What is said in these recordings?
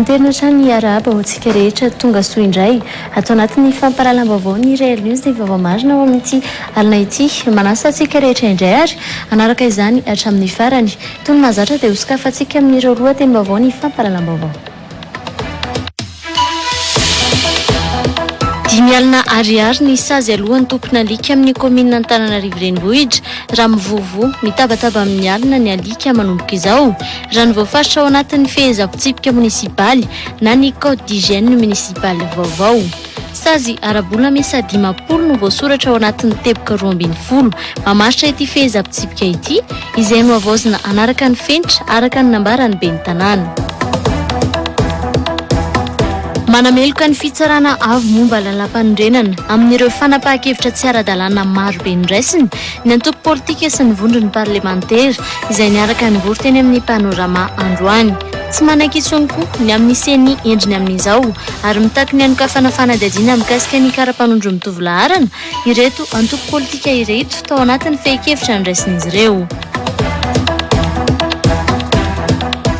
Anterina hatrany hiarahaba ho antsika rehetra tonga soa indray ato anatin'ny fampahalalam-baovao ny Real News dia vaovao marina ao amin'ity alina ity. Manasa antsika rehetra indray ary hanaraka izany hatramin'ny farany. Toy ny mahazatra dia hosokafantsika amin'ireo lohatenim-baovao ny fampahalalam-baovao. Dimy alina ariary ny sazy alohan'ny tompon'alika amin'ny kaominina Antananarivo Renivohitra raha mivovo. Mitabataba amin'ny alina ny alika manomboka izao raha ny voafaritra ao anatin'ny fehezan-pitsipika monisipaly na ny code d'hygiène municipale vaovao. Sazy ara-bola miisa dimampolo no voasoratra ao anatin'ny teboka roa ambin'ny folo mamaritra ity fehezam-pitsipika ity, izay nohavaozina hanaraka ny fenitra, araka ny nambaran'ny ben'ny Tanàna. Manameloka ny fitsarana avo momba lalàmpanorenana amin'ireo fanapahan-kevitra tsy ara-dalàna maro be noraisiny ny antoko politika sy ny vondrony parlemantera, izay niaraka nivory teny amin'ny Panorama androany. Tsy manaiky intsony koa ny amin'ny ceni endriny amin'izao. ary mitaky ny hanokafana fanadihadiana mikasika ny kara-panondron'ny mitovy laharana ireto antoko politika ireto tao anatin'ny fehin-kevitra noraisin'izy ireo.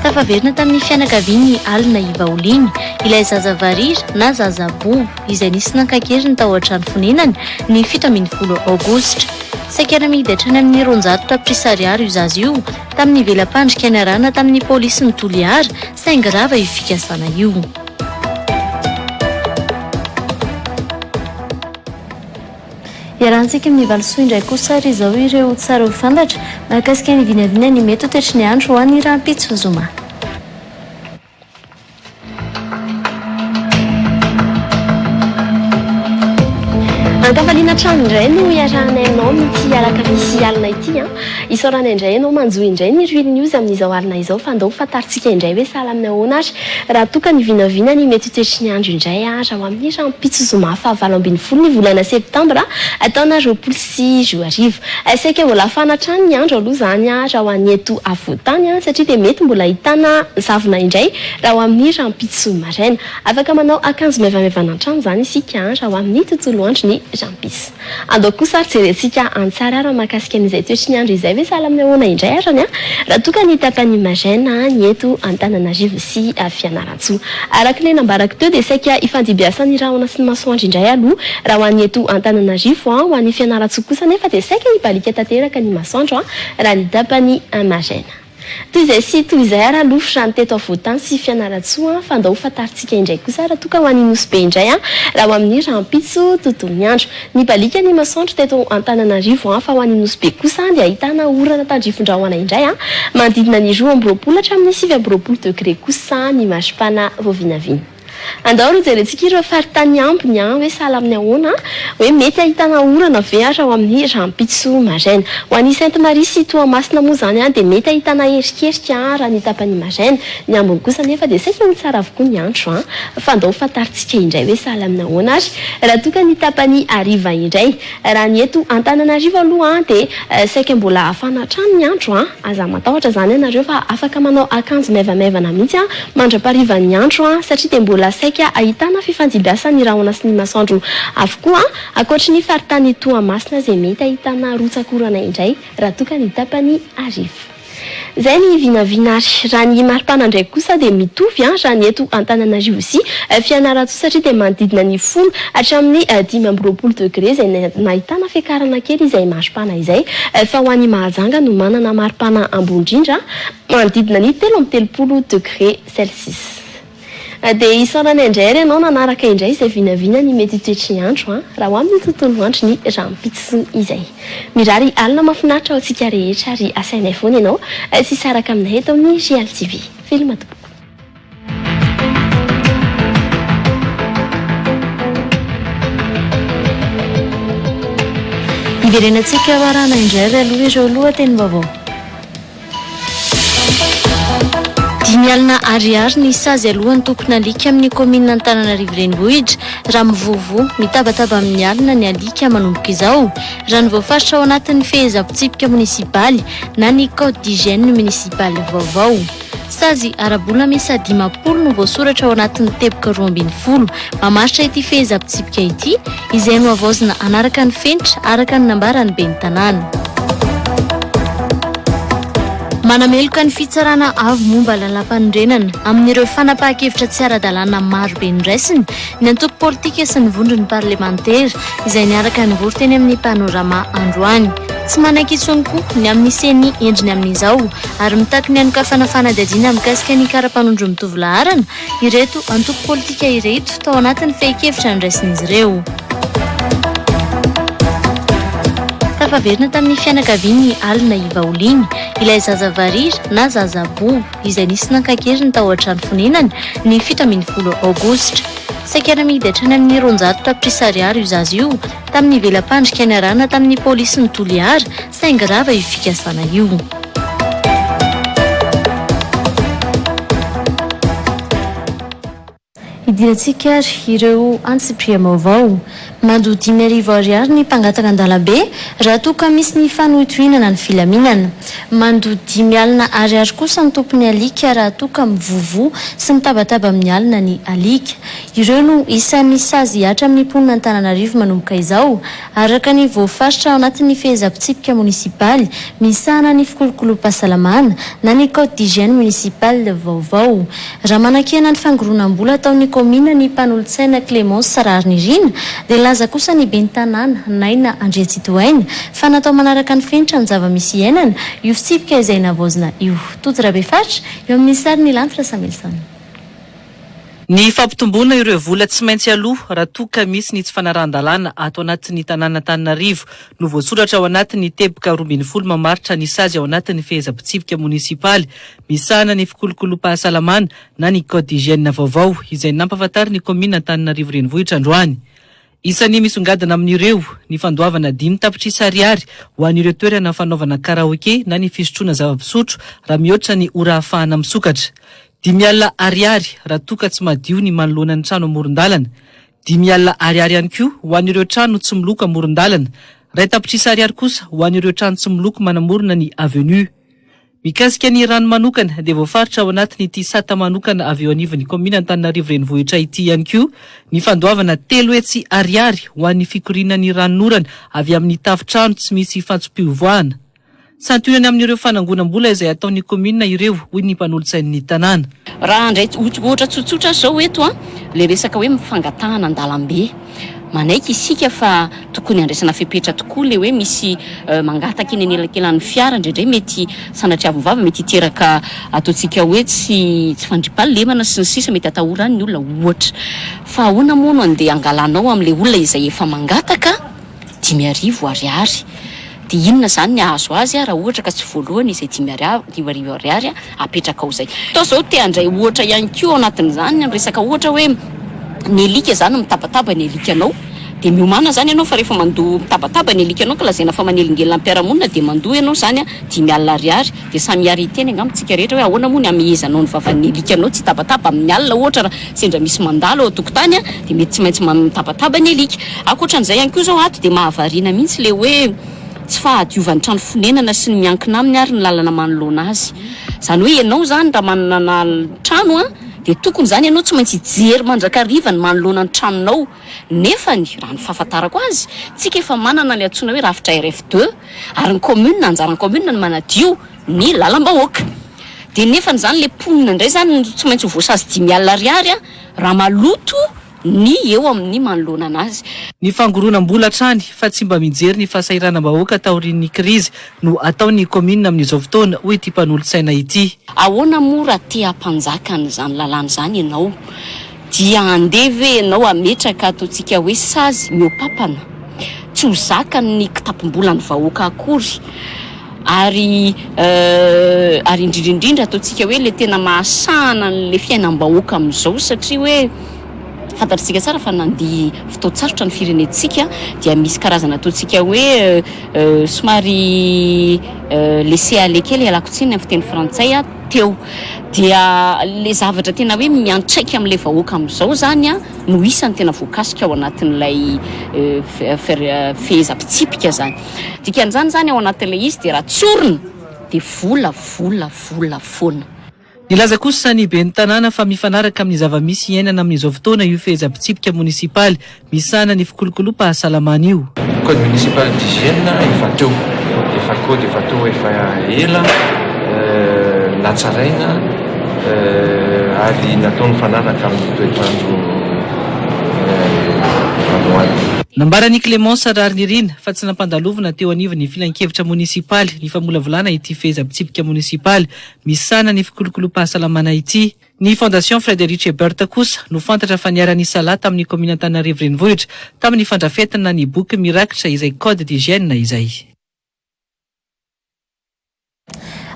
Tafaverina tamin'ny fianakavian'i Alina i Vaoliny, ilay zaza varira na zaza bobo izay nisy nankakeriny tao an-trano fonenany ny fito ambin'ny folo Aogositra. Saika namidy hatrany amin'ny roanjato tapitrisa ariary io zaza io tamin'ny vela-pandrika niarahana tamin'ny polisin'i Toliara, Saingy rava io fikasana io. Iarahantsika amin'ny valisoa indray kosa ary izao ireo tsara ho fantatra mahakasika ny vinavina ny mety ho toetry ny andro ho any rahampitso zoma. Ankafaliana hatrany indray no iarahanay aminao amin'ity alakamisy alina ity. Isaorana indray ianao manjo indray ny Rwil News amin'izao alina izao fa ndao ho fantarintsika indray hoe sahala amin'ny ahoana ary raha toa ka ny vinavina ny mety ho toetry ny andro indray ary ao amin'ny rahampitso zoma fahavalo ambin'ny folo ny volana septambra taona roapolo sy roa arivo. Saika vao lafana hatrany ny andro aloha izany raha ho an'ny eto afovoantany satria dia mety mbola ahitana zavona indray raha ho amin'ny rahampitso maraina. Afaka manao akanjo maivamaivana hatrany izany isika raha ho amin'ny tontolo andro ny rahampitso. Andao kosa ary jerentsika an-tsary ary mahakasika an'izay toetry ny andro izay ve sahala amin'ny ahoana indray arany an? Raha toa ka ny tapany Imagena ny eto Antananarivo sy Fianarantsoa. Araka ilay nambarako teo dia saika ifandibiasan'ny rahona sy ny masoandro indray aloha raha ho an'ny eto Antananarivo an, ho an'ny Fianarantsoa kosa anefa dia saika hibaliaka tanteraka ny masoandro raha ny tapany Imagena. Toy izay sy toy izay ary aloha fran teto afovoantany sy fianarantsoa an, fa ndao ho fantarintsika indray kosa ary toa ka ho any nosy be indray an, raha ho amin'ny rahampitso tontolon'ny andro. Nibaliaka ny masoandro teto antananarivo an, fa ho any nosy be kosa an dia ahitana orana tandrifindrahona indray an, manodidina ny roa amby roapolo hatramin'ny sivy amby roapolo degré kosa ny maripana vao vinavina. Andao ry jerentsika ireo faritany ambiny an, hoe sahala amin'ny ahoana an, hoe mety ahitana orana ve ary ao amin'ny rahampitso maraina. Ho an'i Sainte Marie sy Toamasina moa izany an, dia mety ahitana erikerika an, raha ny tapany maraina. Ny ambiny kosa anefa dia saika ho tsara avokoa ny andro an. Fa andao ho fantarintsika indray hoe sahala amin'ny ahoana ary raha toa ka ny tapany hariva indray. Raha ny eto Antananarivo aloha dia saika mbola hafana hatrany ny andro a! Aza matahotra izany ianareo fa afaka manao akanjo maivamaivana mihitsy mandra-paharivan'ny andro satria dia mbola saika ahitana fifandimbiasan'ny rahona sy ny masoandro avokoa ankoatry ny faritany Toamasina izay mety ahitana rotsak'orana indray raha toa ka ny tapany hariva. Zay ny vinavina ary raha ny maripana ndray kosa dia mitovy an raha ny eto Antananarivo sy Fianarantsoa satria dia manodidina ny folo hatramin'ny dimy amby roapolo degré izay nahitana fiakarana kely izay maripana izay fa ho an'i Mahajanga no manana maripana ambony indrindra manodidina ny telo amby telopolo degré celsius. Dia isaorana indray ary ianao nanaraka indray izay vinavina ny mety ho toetry ny andro an! Raha ho amin'ny tontolo andro ny rahampitso izay. Mirary alina mahafinaritra ho antsika rehetra ary asainay foana ianao tsy hisaraka aminay eto amin'ny Real TV. Film tompoko. Hiverenantsika hoarahana indray ary aloha ireo lohatenim-baovao. Dimy alina Ariary ny sazy alohan'ny tompon'alika amin'ny kaominina Antananarivo Renivohitra raha mivovo, mitabataba amin'ny alina ny alika manomboka izao, raha ny voafaritra ao anatin'ny fehezam-pitsipika monisipaly na ny code d'hygiène municipale vaovao. Sazy ara-bola miisa dimampolo no voasoratra ao anatin'ny teboka roa ambin'ny folo mamaritra ity fehezam-pitsipika ity, izay nohavaozina hanaraka ny fenitra, araka ny nambaran'ny ben'ny Tanàna. Manameloka ny fitsarana avo momba lalàmpanorenana amin'ireo fanapahan-kevitra tsy ara-dalàna maro be noraisiny ny antoko politika sy ny vondron'ny parlemantera, izay niaraka nivory teny amin'ny Panorama androany. Tsy manaiky intsony koa ny amin'ny ceni endriny amin'izao. ary mitaky ny hanokafana fanadihadiana mikasika ny kara-panondron'ny mitovy laharana ireto antoko politika ireto tao anatin'ny fehin-kevitra noraisin'izy ireo. tafaverina tamin'ny fianakavian'ny alina ivaoliny ilay zaza varira na zaza bobo izay nisy nankakeriny tao an-trano fonenany ny fito ambin'ny folo aogositra saika namidy hatrany amin'ny roanjato tapitrisa ariary io zaza io tamin'ny vela-pandrika niarahana tamin'ny polisy ny toliara saingy rava io fikasana io. Hidirantsika ary ireo antsipiriam-baovao. Mandoa dimy arivo ariary ny mpangataka an-dalambe raha toa ka misy ny fanohitohinana ny filaminana. Mandoa dimy alina ariary kosa ny tompon'ny alika raha toa ka mivovo sy mitabataba amin'ny alina ny alika. Ireo no isan'ny sazy hatramin'ny mponina Antananarivo manomboka izao. Araka ny voafaritra ao anatin'ny fehezam-pitsipika monisipaly misahana ny fikolokolom-pahasalamana na ny Code d'hygiène municipale vaovao, raha manakiana ny fangoronam-bola ataon'ny kaominina ny mpanolotsaina Clémence Raharinirina, dia nilaza kosa ny ben'ny tanàna, Naina Andriatsitohaina, fa natao manaraka ny fenitra ny zava-misy iainana io fitsipika izay navaozina io. Tojo Rabefatra, eo amin'ny sary, Ny lanitra Samuelson. Ny fampitomboana ireo vola tsy maintsy aloa raha toa ka misy ny tsy fanarahan-dalàna ato anatin'ny tanàn'Antananarivo no voasoratra ao anatin'ny teboka roa ambin'ny folo mamaritra ny sazy ao anatin'ny fehezam-pitsipika monisipaly misahana ny fikolokolom-pahasalamana na ny code d'hygiène vaovao izay nampahafantarin'ny kaominina Antananarivo Renivohitra androany. Isan'ny misongadina amin'ireo ny fandoavana dimy tapitrisa ariary ho an'ireo toerana fanaovana karaoke na ny fisotroana zava-pisotro raha mihoatra ny ora ahafahana misokatra. Dimy alina ariary raha toa ka tsy madio ny manoloana ny trano amoron-dalana. Dimy alina ariary ihany koa ho an'ireo trano tsy miloko amoron-dalana. Iray tapitrisa ariary kosa ho an'ireo trano tsy miloko manamorona ny avenue. Mikasika ny rano manokana dia voafaritra ao anatin'ity sata manokana avy eo anivon'ny kaominina Antananarivo Renivohitra ity ihany koa ny fandoavana telo hetsy ariary ho an'ny fikoriana ny ranon'orana avy amin'ny tafontrano tsy misy fantsom-pivoahana. Santionany amin'ireo fanangonam-bola izay ataon'ny kaominina ireo, hoy ny mpanolotsain'ny tanàna. Raha handray ohatra tsotsotra aza izao eto, ilay resaka hoe fangatahana an-dalambe. Manaiky isika fa tokony handraisana fepetra tokoa ilay hoe misy mangataka eny anelakelan'ny fiara, indraindray mety sanatria avohova, mety hiteraka ataontsika hoe tsy fandriampahalemana sy ny sisa, mety atahora any ny olona ohatra. Fa ahoana moa no andeha hangalanao amin'ilay olona izay efa mangataka? dimy arivo ariary dia inona izany ny ahazo azy raha ohatra ka tsy voalohany izay dimy arivo arivo ariary apetrakao izay toa izao te handray ohatra ihany koa ao anatin'izany ny resaka ohatra hoe ny alika izany mitabataba ny alikanao dia miomana izany ianao fa rehefa mandoa mitabataba ny alikanao ka lazaina fa manelingelina am-piarahamonina dia mandoa ianao izany dimy alina ariary Dia samy hiara hiteny angamba isika rehetra hoe ahoana moa ny hamehezanao ny vavan'ny alikanao tsy hitabataba amin'ny alina ohatra raha sendra misy mandalo ao an-tokotany dia mety tsy maintsy mitabataba ny alika. Ankoatran'izay ihany koa izao ato dia mahavariana mihitsy ilay hoe tsy fahadiovan'ny trano fonenana sy ny miankina aminy ary ny lalana manoloana azy. Izany hoe ianao izany raha manana trano dia tokony izany ianao tsy maintsy hijery mandrakariva ny manoloana ny tranonao. Nefany, raha ny fahafantarako azy, tsika efa manana ny antsoina hoe rafitra RF deux ary ny commune anjaran'ny commune ny manadio ny lalam-bahoaka. Dia nefany izany ilay mponina indray izany no tsy maintsy ho voasazy dimy alina ariary raha maloto ny eo amin'ny manoloana anazy. Ny fangoronam-bola hatrany fa tsy mba mijery ny fahasahiranam-bahoaka taorian'ny krizy no atao ny commune amin'izao fotoana, hoy ity mpanolotsaina ity. Ahoana moa raha te hampanjaka an'izany lalàna izany ianao? Dia handeha ve ianao hametraka ataontsika hoe sazy mihoa-papana, tsy ho zakan'ny kitapom-bolan'ny vahoaka akory, ary euh ary indrindra indrindra ataontsika hoe ilay tena mahasahana an'ilay fiainam-bahoaka amin'izao satria hoe fantatr'tsika tsara fa nandia fotoan-tsarotra ny firenentsika dia misy karazana ataontsika hoe euh somary euh laisser aller kely ialako tsiny amin'ny fiteny frantsay ah. teo dia le zavatra tena hoe miantraika amin'ilay vahoaka amin'izao izany no isany tena voakasika ao anatin'ilay fehezam-pitsipika izany. Dikan'izany izany ao anatin'ilay izy dia raha tsorina dia vola, vola, vola foana. Nilaza kosa ny ben'ny tanàna fa mifanaraka amin'ny zava-misy iainana amin'izao fotoana io fehezam-pitsipika monisipaly Misahana ny fikolokolom-pahasalamana io. Code municipal d'hygiène efa teo, efa code efa teo efa ela natsaraina ary natao nifanaraka amin'ny toetr'andro androany. Nambaran'i Clémence Rarinirina fa tsy nampandalovina teo anivon'ny filankevitra monisipaly ny famolavolana ity fehezam-pitsipika monisipaly misahana ny fikolokolom-pahasalamana ity. Ny Fondation Frederic Ebert kosa no fantatra fa niara-nisalahy tamin'ny kaominina Antananarivo Renivohitra tamin'ny fandrafetana ny boky mirakitra izay code d'hygiène izay.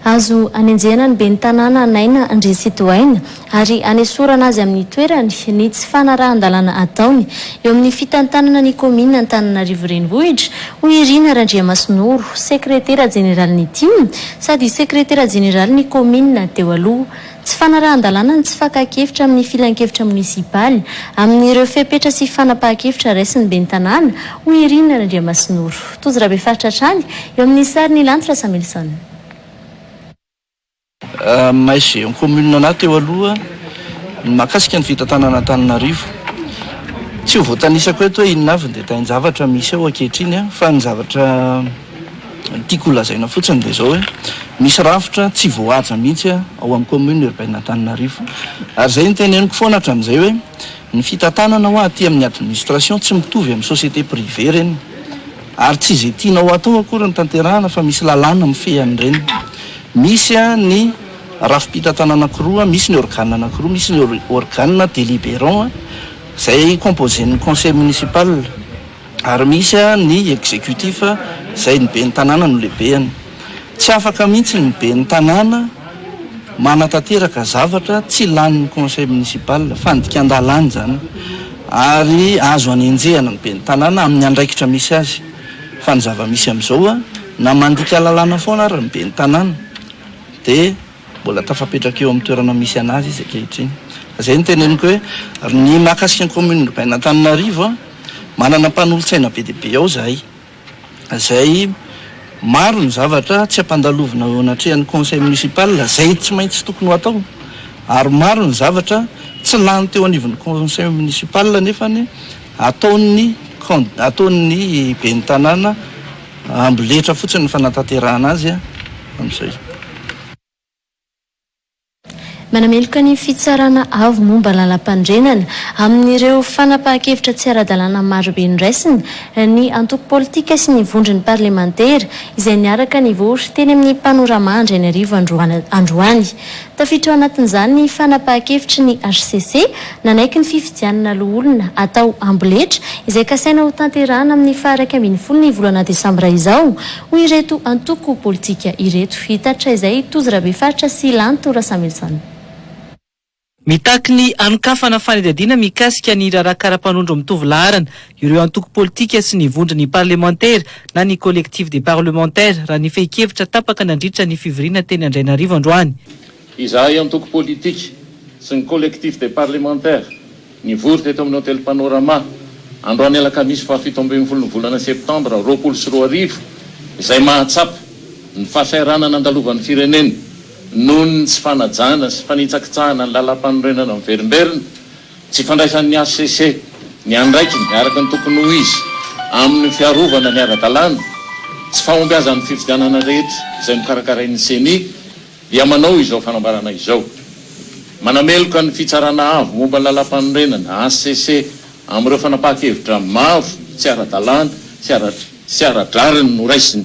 Azo anenjehana ny ben'ny tanàna Naina Andry Sidoaina ary anesorana azy amin'ny toerany ny tsy fanarahan-dalàna ataony eo amin'ny fitantanana ny kaominina Antananarivo Renivohitra, hoy i Rina Randriamasinoro, sekretera jeneralin'ny Tim sady sekretera jeneralin'ny kaominina teo aloha. Tsy fanarahan-dalàna ny tsy fakan-kevitra amin'ny filankevitra monisipaly, amin'ireo fepetra sy fanapahan-kevitra raisin'ny ben'ny tanàna, hoy i Rina Randriamasinoro, tojo rabefaritra hatrany, eo amin'ny sarin'i Lanitra Samuelson. Aminay géant commune anah teo aloha, ny mahakasika ny fitantanana Antananarivo, tsy ho voatanisako eto hoe inona avy ny detail-javatra misy eo ankehitriny fa ny zavatra, Ny tiako holazaina fotsiny dia izao hoe misy rafitra tsy voahaja mihitsy ao amin'ny commune urbaine Antananarivo. Ary izay no teneniko foana hatramin'izay hoe ny fitantanana hoa aty amin'ny administration tsy mitovy amin'ny société privée ireny. Ary tsy izay tianao hatao akory no tanterahana fa misy lalàna mifehy an'ireny. Misy ny rafi-pitantanana anankiroa, misy ny organe anankiroa, misy ny organe deliberant izay composé-n'ny conseil municipal. Ary misy ny executif izay ny ben'ny tanàna no lehibehany. Tsy afaka mihitsy ny ben'ny tanàna manatanteraka zavatra tsy lanin'ny conseil municipal. Fandikan-dalàna izany ary azo anenjehana ny ben'ny tanàna amin'ny andraikitra misy azy. Fa ny zava-misy amin'izao na mandika lalàna foana ary ny ben'ny tanàna dia. Mbola tafapetraka eo amin'ny toerana misy an'azy izy ankehitriny. Ka izay no teneniko hoe, ry ny mahakasika ny Commune Urbaine Antananarivo a, manana mpanolotsaina be dia be ao izahay, izay maro ny zavatra tsy ampandalovina eo anatrehan'ny Conseil Municipal, izay tsy maintsy tokony ho atao, ary maro ny zavatra tsy lany teo anivon'ny Conseil Municipal nefany ataon'ny Can, ataon'ny Ben'ny Tanàna. Amboletra fotsiny ny fanatanterahana azy amin'izay. Manameloka ny fitsarana avo momba lalampandrenana amin'ireo fanapahan-kevitra tsy ara-dalàna marobe noraisina ny antoko politika sy ny vondron'ny parlemantera izay niaraka nivory teny amin'ny Panorama Andrainarivo androany. Tafiditra ao anatin'izany ny fanapahan-kevitry ny hcc nanaiky ny fifidianana loholona atao Amboletra izay kasaina ho tanterahana amin'ny faha iraika ambin'ny folo ny volana desambra izao, hoy ireto antoko politika ireto. Hitaritra izay Tojo Rabefaritra sy Lanto Rasamilison. Mitaky ny hanokafana fanadihadiana mikasika ny raharaha karapanondro mitovy laharana. Ireo antoko politika sy ny vondron'ny parlemantera na ny Collectif des parlementaires raha ny fehin-kevitra tapaka nandritra ny fivoriana teny Andrainarivo androany. Izahay antoko politika sy ny Collectif des parlementaires nivory teto amin'ny Hotely Panorama androany alakamisy fahafito ambin'ny folo ny volana septambra roapolo sy roa arivo izay mahatsapa ny fahasahiranana nandalovan'ny firenena noho ny tsy fanajana sy fanitsakitsahana ny Lalàmpanorenana miverimberina Tsy fandraisan'ny hcc ny andraikiny araka ny tokony ho izy amin'ny fiarovana ny ara-dalàna, tsy fahombiazan'ny fifidianana rehetra izay nokarakarain'ny Ceni dia manao izao fanambarana izao, Manameloka ny Fitsarana Avo momba ny Lalàmpanorenana, hcc, amin'ireo fanapahan-kevitra maro tsy ara-dalàna sy ara-drariny noraisiny.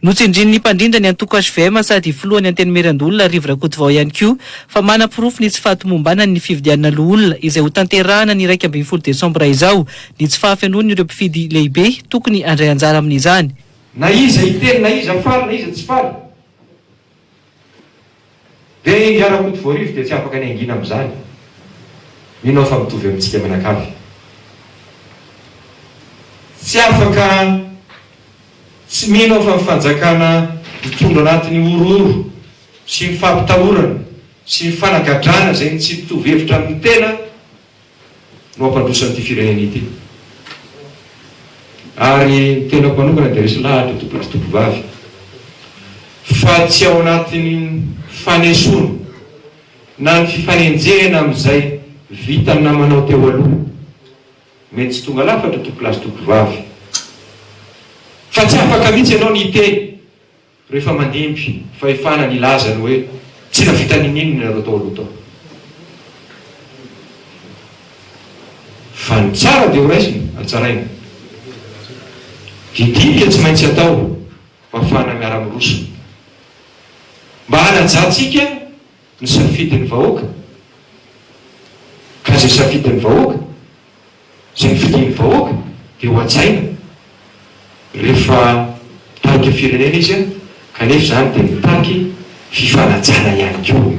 Notsindrin'ny mpandrindra ny antoko hvm sady filohan'ny Antenimierandoholona Rivo Rakotovao ihany koa fa manaporofo ny tsy fahatomombanany ny fividianana loholona izay hotanterahana ny iraika ambin'ny folo desambra izao ny tsy fahafenoany ireo mpifidy lehibe tokony handray anjara amin'izany. Na iza hiteny na iza faly na iza tsy faly. Dia i Rakoto Voarivo dia tsy afaka ny hangina amin'izany. Mino aho fa mitovy amintsika mianakavy. Tsy afaka tsy mino aho fa ny fanjakana mitondra anaty ny horohoro sy ny fampitahorana sy ny fanagadrana izay ny tsy mitovy hevitra amin'ny tena, no hampandroso an'ity firenena ity. Ary ny tenako manokana dia resy lahatra eto Pety Tovovavy fa tsy ao anatin'ny fanesoana na ny fifanenjehana amin'izay vitan'ny namanao teo aloha. Mety tsy tonga lafatra eto Pety Tovovavy fa tsy afaka mihitsy ianao ny hiteny Rehefa mandimby fahefana ny hilaza ny hoe tsy nahavita nininon ianareo tao aloha tao. Fa ny tsara dia ho raisina ary tsaraina. Didiana dia tsy maintsy atao mba hahafahana miara miroso. Mba hanajantsika ny safidin'ny vahoaka ka izay safidin'ny vahoaka. Izay fidin'ny vahoaka dia hohajaina rehefa mitarika firenena izy kanefa izany dia mitaky fifanajana ihany koa.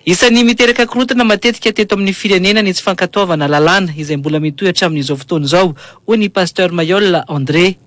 Isan'ny miteraka korontana matetika teto amin'ny firenena ny tsy fankatoavana lalàna, izay mbola mitohy hatramin'izao fotoana izao, hoy ny Pasteur Mayolle André.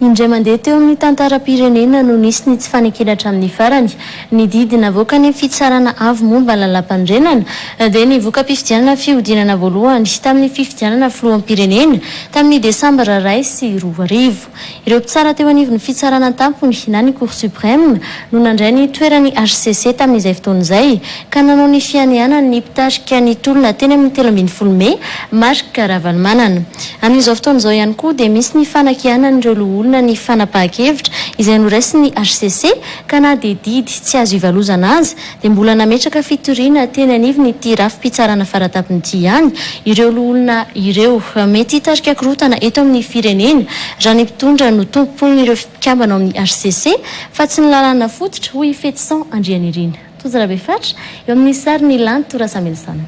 Indray mandeha teo amin'ny tantaram-pirenena no nisy ny tsy fanekena hatramin'ny farany. Ny didy navoakan'ny fitsarana avo momba ny lalàmpanorenana dia ny voka-pifidianana fihodinana voalohany tamin'ny fifidianana filoham-pirenena tamin'ny Desambra iray sy roa arivo. Ireo mpitsara teo anivon'ny Fitsarana An-tampony na ny Cour Supreme no nandray ny toeran'ny hcc tamin'izay fotoana izay ka nanao ny fianianany ny mpitarika ny tolona teny amin'ny telo ambin'ny folo mey, Marc Ravalomanana. Amin'izao fotoana izao ihany koa dia misy ny fanakianan'ireo loholona ny fanapahan-kevitra izay noraisin'ny hcc ka na dia didy tsy azo ivalozana aza dia mbola nametraka fitoriana teny anivon'ity rafi-pitsarana faratapony ity ihany ireo loholona ireo. Mety hitarika korontana eto amin'ny firenena raha ny mpitondra no tompon'ireo mpikambana ao amin'ny hcc Fa tsy ny lalàna fototra, hoy i Fetison Andrianirina. Tojo Rabefatra, eo amin'ny sarin'i Lanto Rasamilison.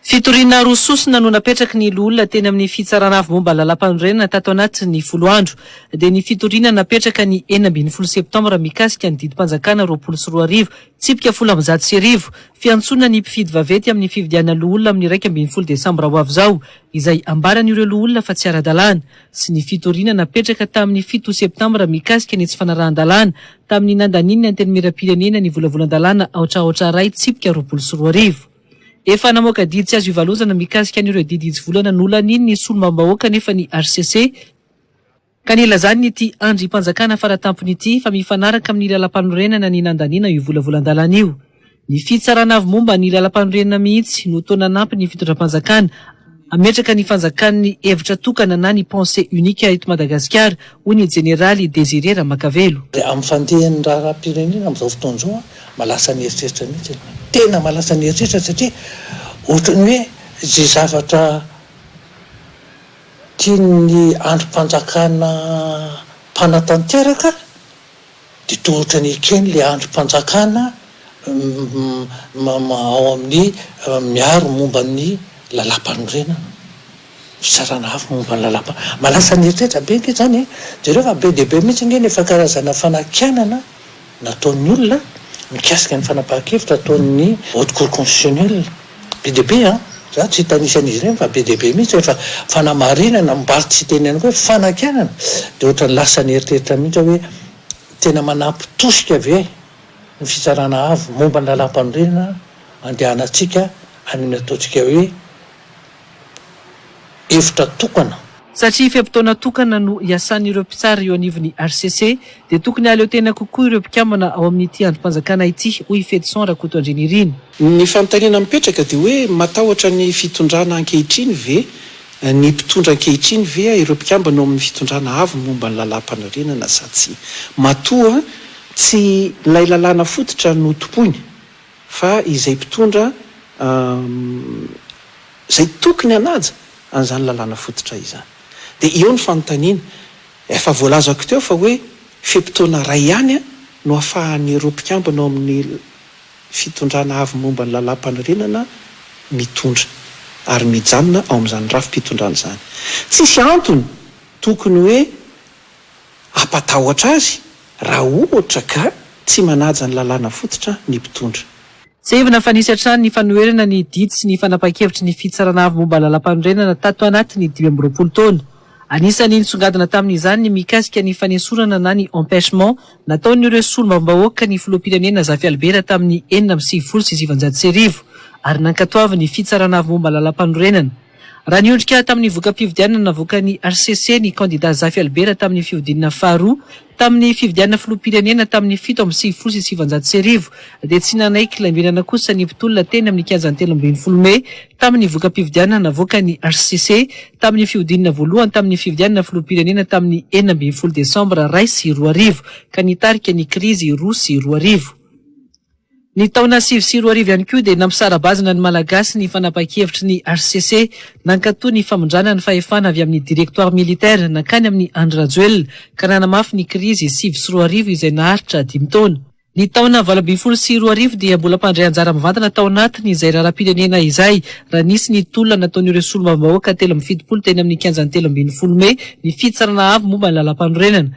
Fitoriana roa sosona no napetraky ny loholona teny amin'ny Fitsarana Avo momba ny Lalàmpanorenana tato anatin'ny folo andro, dia ny fitoriana napetraka ny enina ambin'ny folo septambra mikasika ny didim-panjakana roapolo sy roa arivo, tsipika folo amby zato sy arivo, fiantsoana ny mpifidy vaventy amin'ny fividianana loholona amin'ny iraika ambin'ny folo desambra ho avy izao, izay ambaran'ireo loholona fa tsy ara-dalàna. sy ny fitoriana napetraka tamin'ny fito septambra mikasika ny tsy fanarahan-dalàna tamin'ny nandanian'ny Antenimierampirenena ny volavolan-dalàna aotraotra iray tsipika roapolo sy roa arivo. Efa namoaka didy tsy azo ivalozana mikasika an'ireo didy hitsivolana nolanian'ny solombavambahoaka anefa ny hcc, ka nilazany ity andrimpanjakana faratampony ity fa mifanaraka amin'ny lalàmpanorenana ny nandaniana io volavolan-dalàna io. Ny fitsarana avy momba ny lalampanorenana mihitsy no toa nanampy ny fitondram-panjakana hametraka ny fanjakan'ny hevitra tokana na ny pensée unique eto Madagasikara, hoy ny jeneraly Désiré Ramakavelo. Dia amin'ny fandehan'ny raharaham-pirenena amin'izao fotoana izao, mahalasa ny eritreritra mihitsy ianao. Tena mahalasa ny eritreritra satria ohatran'ny hoe izay zavatra tian'ny andrim-panjakana mpanatanteraka, Dia toa ohatran'ny ekeny ilay andrim-panjakana ao amin'ny miaro momba ny lalàmpanorenana, fitsarana hafa momba ny lalàmpa. Manasa ny eritreritra be ange izany e! Jereo fa be dia be mihitsy ange ny efa karazana fanakianana nataon'ny olona mikasika ny fanapahan-kevitra ataon'ny Haute Cour Constitutionnelle. Be dia be an! Za tsy hitanisa an'izy ireny fa be dia be mihitsy ohatra fanamarinana mbaly tsy hiteny ihany koa hoe fanakianana dia ohatran'ny lasa ny eritreritra mihitsy aho hoe tena manampy tosika ve ny fitsarana avo momba ny lalam-panorenana andehanantsika any amin'ny ataontsika hoe efitra tokana. Satria fe-potoana tokana no hiasan'ireo mpitsara eo anivon'ny hcc, dia tokony hahaleo tena kokoa ireo mpikambana ao amin'ity andrim-panjakana ity, hoy i Fedson Rakotoandrianirina. Ny fanontaniana mipetraka dia hoe matahotra ny fitondrana ankehitriny ve ny mpitondra ankehitriny ve ireo mpikambana ao amin'ny fitondrana avy ny momba ny lalàmpanorenana sa tsia? Matoa tsy ilay lalàna fototra no tompoiny. Fa izay mpitondra izay tokony hanaja an'izany lalàna fototra izany. Dia eo ny fanontaniana, efa voalazako teo fa hoe fe-potoana iray ihany no ahafahan'ireo mpikambana ao amin'ny fitondrana avy momba ny lalàmpanorenana mitondra ary mijanona ao amin'izany rafi-pitondrana izany. Tsisy antony tokony hoe hampatahotra azy raha ohatra ka tsy manaja ny lalàna fototra ny mpitondra. Tsiahivina fa nisy hatrany ny fanoherana ny didy sy ny fanapahan-kevitry ny Fitsarana Avo momba ny Lalàmpanorenana tato anatin'ny dimy amby roapolo taona. Anisan'ny nisongadina tamin'izany ny mikasika ny fanesorana na ny empêchement nataon'ireo Solombavambahoaka ny Filoham-pirenena Zafialibera tamin'ny enina amby sivifolo sy sivinjato sy arivo ary nankatoavin'ny Fitsarana Avo momba ny Lalàmpanorenana Raha niondrika tamin'ny voka-pifidianana navoakan'ny hcc ny kandida Zafy Albert tamin'ny fihodinana faharoa tamin'ny fifidianana filoham-pirenena tamin'ny fito amby sivifolo sy sivinjato sy arivo dia tsy nanaiky kilaimbenana kosa ny mpitolona teny amin'ny kianjan'ny telo ambin'ny folo mey tamin'ny voka-pifidianana navoakan'ny hcc tamin'ny fihodinana voalohany tamin'ny fifidianana filoham-pirenena tamin'ny enina ambin'ny folo desambra iray sy roa arivo ka nitarika ny krizy roa sy roa arivo. Ny taona sivy sy roa arivo ihany koa dia nampisara-bazana ny Malagasy ny fanapahan-kevitry ny hcc nankato ny famindrana ny fahefana avy amin'ny directoire militaire nankany amin'i Andry Rajoelina ka nanamafy ny krizy sivy sy roa arivo izay naharitra dimy taona. Ny taona valo ambin'ny folo sy roa arivo dia mbola mpandray anjara mivantana tao anatin' izay raharaham-pirenena izay raha nisy ny tolona nataon'ireo solombavambahoaka telo amby fitopolo teny amin'ny kianjan'ny telo ambin'ny folo mey ny Fitsarana Avo momba ny Lalàmpanorenana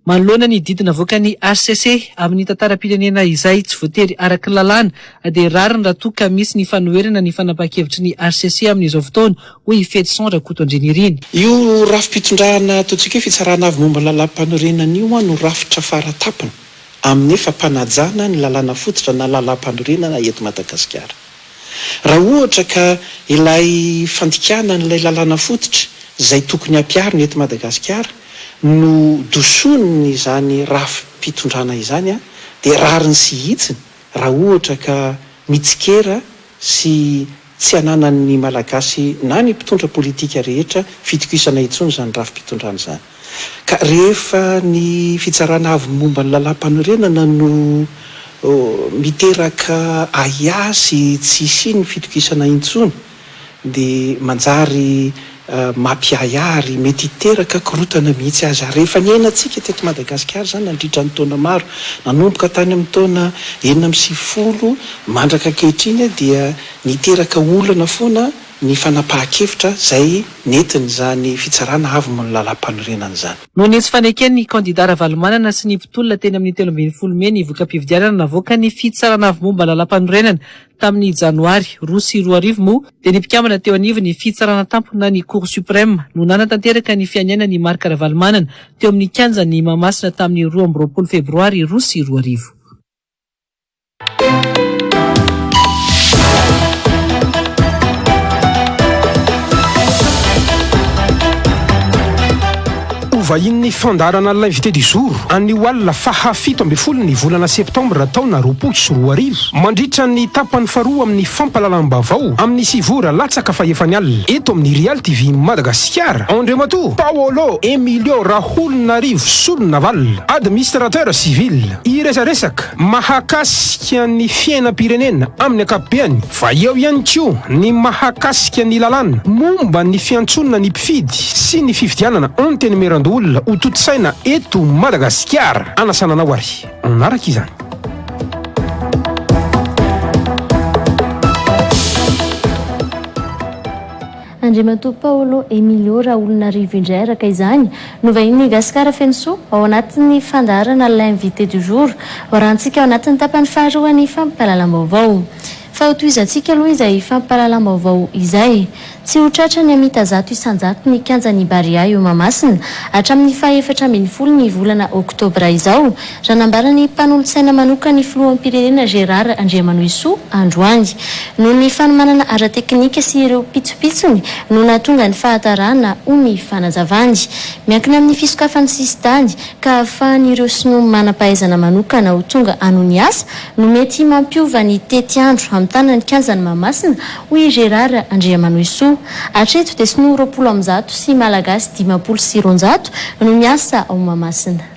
Manoloana ny didy navoakan'ny hcc amin'ny tantaram-pirenena izay tsy voatery araky ny lalàna dia rariny raha toa ka misy ny fanoherana ny fanapahan-kevitry ny hcc amin'izao fotoana, hoy i Fedson Rakoto Andrianirina. Io rafi-pitondrana ataontsika hoe Fitsarana Avo momba ny Lalàmpanorenana io no rafitra fara tampony amin'ny fampanajana ny lalàna fototra na lalàmpanorenana eto Madagasikara. Raha ohatra ka ilay fandikana an'ilay lalàna fototra izay tokony hampiharina eto Madagasikara no dosonin' izany rafi-pitondrana izany dia rariny sy hitsiny raha ohatra ka mitsikera sy tsy ananan'ny Malagasy na ny mpitondra politika rehetra fitokisana intsony izany rafi-pitondrana izany. Ka rehefa ny Fitsarana Avo momba ny Lalàmpanorenana no miteraka ahiahy sy tsy hisian'ny fitokisana intsony dia manjary mampiahiahy ary mety hiteraka korontana mihitsy aza. Rehefa niainantsika teto Madagasikara izany nandritra ny taona maro, nanomboka tany amin'ny taona enina amby sivifolo mandrak'ankehitriny dia niteraka olana foana, ny fanapahan-kevitra izay nentin'izany fitsarana avy mony lalàmpanorenana izany. Noho ny tsy faneken'ny kandidà Ravalomanana sy ny mpitolona teny amin'ny telo ambin'ny folo mey ny voka-pifidianana navoakan'ny Fitsarana avy momba lalàmpanorenana tamin'ny janoary roa sy roa arivo moa dia ny mpikambana teo anivon'ny Fitsarana Tampona ny Cour Suprême no nanatanteraka ny fianianan'i Marc Ravalomanana teo amin'ny kianjan'i Mahamasina tamin'ny roa amby roapolo febroary roa sy roa arivo. Hovahian'ny fandaharana L'Invité du jour anio alina faha fito ambin'ny folo ny volana septambra taona roapolo sy roa arivo, mandritra ny tapany faharoa amin'ny fampahalalam-baovao amin'ny sivy ora latsaka fahefany alina, eto amin'ny Real TV Madagasikara. Andriamatoa Paolo Emilio Raholonarivo Solonavalona, Administrateur Civil. Hiresaresaka mahakasika ny fiainam-pirenena amin'ny ankapobeany, fa eo ihany koa ny mahakasika ny lalàna momba ny fiantsoana ny mpifidy sy ny fifidianana Antenimierandoholona ho tontosaina eto Madagasikara. Anasana anao ary hanaraka izany. Andriamatoa Paolo Emilio Raholinarivo indray araka izany no vahinin'ny Gasikara feno soa ao anatin'ny fandaharana L'invité du jour hoarahantsika ao anatin'ny tapany faharoan'ny fampahalalam-baovao. Fa ho tohizantsika aloha izay fampahalalam-baovao izay. Tsy ho tratra ny hamita zato isan-jato ny kianjan'ny Barea eo Mahamasina hatramin'ny faha efatra ambin'ny folo ny volana oktobra izao. Raha nambara ny mpanolotsaina manokana ny filoham-pirenena Gérard Andriamanohisoa androany, noho ny fanomanana ara-teknika sy ireo pitsopitsony no nahatonga ny fahatarana, hoy ny fanazavany. Miankina amin'ny fisokafan'ny sisintany ka ahafahan'ireo sinoa manam-pahaizana manokana ho tonga hanohy ny asa no mety mampiova ny tetiandro hamitana ny kianjan'i Mahamasina, hoy i Gérard Andriamanohisoa. Hatreto dia sinoa roapolo amby zato sy malagasy dimampolo sy roanjato no miasa ao Mahamasina.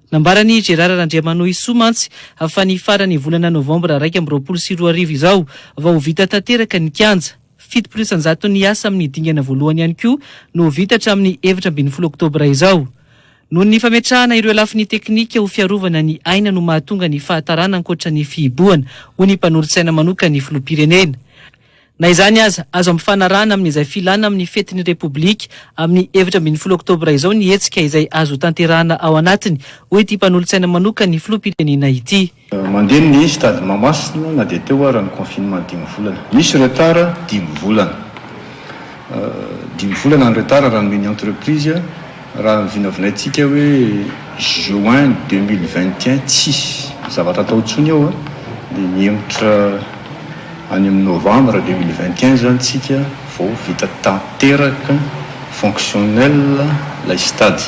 Nambaran'i Gérard Randriamanohisoa mantsy fa ny faran'ny volana novambra iraika amby roapolo sy roa arivo izao vao ho vita tanteraka ny kianja. Fitopolo isan-jaton'ny asa amin'ny dingana voalohany ihany koa no ho vita hatramin'ny efatra ambin'ny folo oktobra izao. Noho ny fametrahana ireo lafiny teknika ho fiarovana ny aina no mahatonga ny fahatarana ankoatra ny fihibohana, hoy ny mpanolotsaina manokan'ny filoham-pirenena. Na izany aza, azo ampifanarahana amin'izay filana amin'ny fetin'ny Repoblika amin'ny efatra ambin'ny folo oktobra izao ny hetsika izay azo tanterahana ao anatiny, hoy ity mpanolotsaina manokan'ny filoham-pirenena ity. Mandeha ny stade Mahamasina na dia teo ara ny confinement dimy volana. Misy retard dimy volana. Dimy volana ny retard raha nomeny entreprise. Raha ny vinavinaintsika hoe juin deux mille vingt et un tsisy zavatra atao intsony eo a, dia mihemotra any amin'ny novembre deux mille vingt et un izany tsika vao vita tanteraka fonctionnel ilay stade.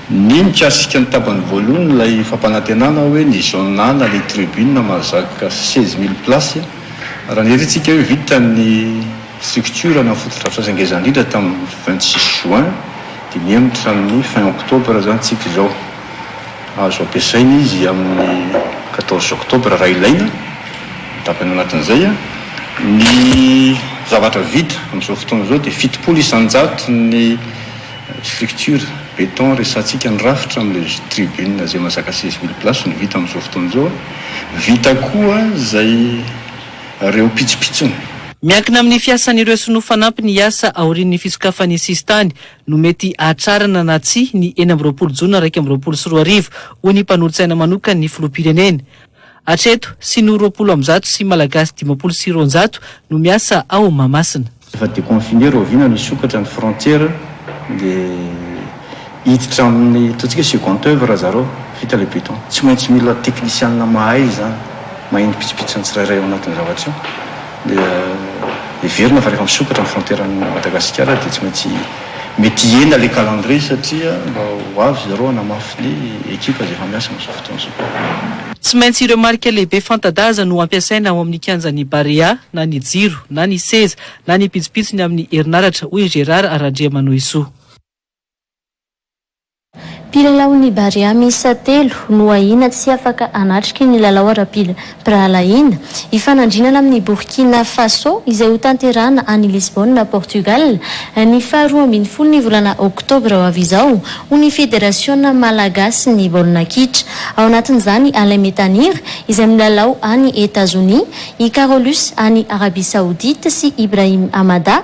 Ny mikasika ny tapany voalohany ilay fampanantenana hoe ny zona na ilay tribune mahazaka seize mille place, raha niherintsika hoe vita ny. Structure na fotodrafitrasa ngeza ndrindra tamin'ny vingt six juin dia mihemotra amin'ny fin octobre izantsika izao. Azo ampiasaina izy amin'ny quatorze octobre raha ilaina, ny tapany anatin'izay. Ny zavatra vita amin'izao fotoana izao dia fitopolo isanjato ny structure beton resatsika ny rafitra amin'ilay tribune izay mazaka seize mille places no vita amin'izao fotoana izao. Vita koa izay reo pitsopitsony. Miankina amin'ny fiasan'ireo sinoa fanampy ny asa aorian'ny fisokafan'ny sisintany no mety hahatrarana na tsia ny enina amby roapolo jona iraika amby roapolo sy roa arivo, hoy ny mpanolotsaina manokany ny filoham-pirenena. Hatreto, sinoa roapolo amby zato sy malagasy dimampolo sy roanjato no miasa ao Mahamasina. Efa deconfiner rahoviana no hisokatra ny frontière dia hiditra amin'ny ataontsika hoe second oeuvre ry zareo vita ilay beton. Tsy maintsy mila teknisianina mahay izany, mahay ny pitsopitsony ny tsirairay ao anatin'io zavatra io dia heverina fa rehefa misokatra ny frontière an'i Madagasikara dia tsy maintsy Mety hihena ilay calendrier satria mba ho avy zareo hanamafy ny ekipa izay efa miasa amin'izao fotoana izao. Tsy maintsy ireo marika lehibe fanta-daza no ampiasaina ao amin'ny kianjan'ny Barea, na ny jiro, na ny seza, na ny pitsopitsony amin'ny herinaratra, hoy Gérard Randriamanohisoa. Mpilalaon'ny Barea miisa telo no ahiana tsy afaka hanatrika ny lalao ara-pirahalahiana hifanandrinana amin'i Borkina Fasô izay hotanterahana any Lisbona, Portugal, ny faha roa ambin'ny folon'ny volana oktobra ho avy izao, hoy ny Federasiona malagasin'ny baolina kitra. Ao anatin'izany Alain Metanire izay milalao any Etazonia, i Carolus any Arabia Saodita sy Ibrahim Amada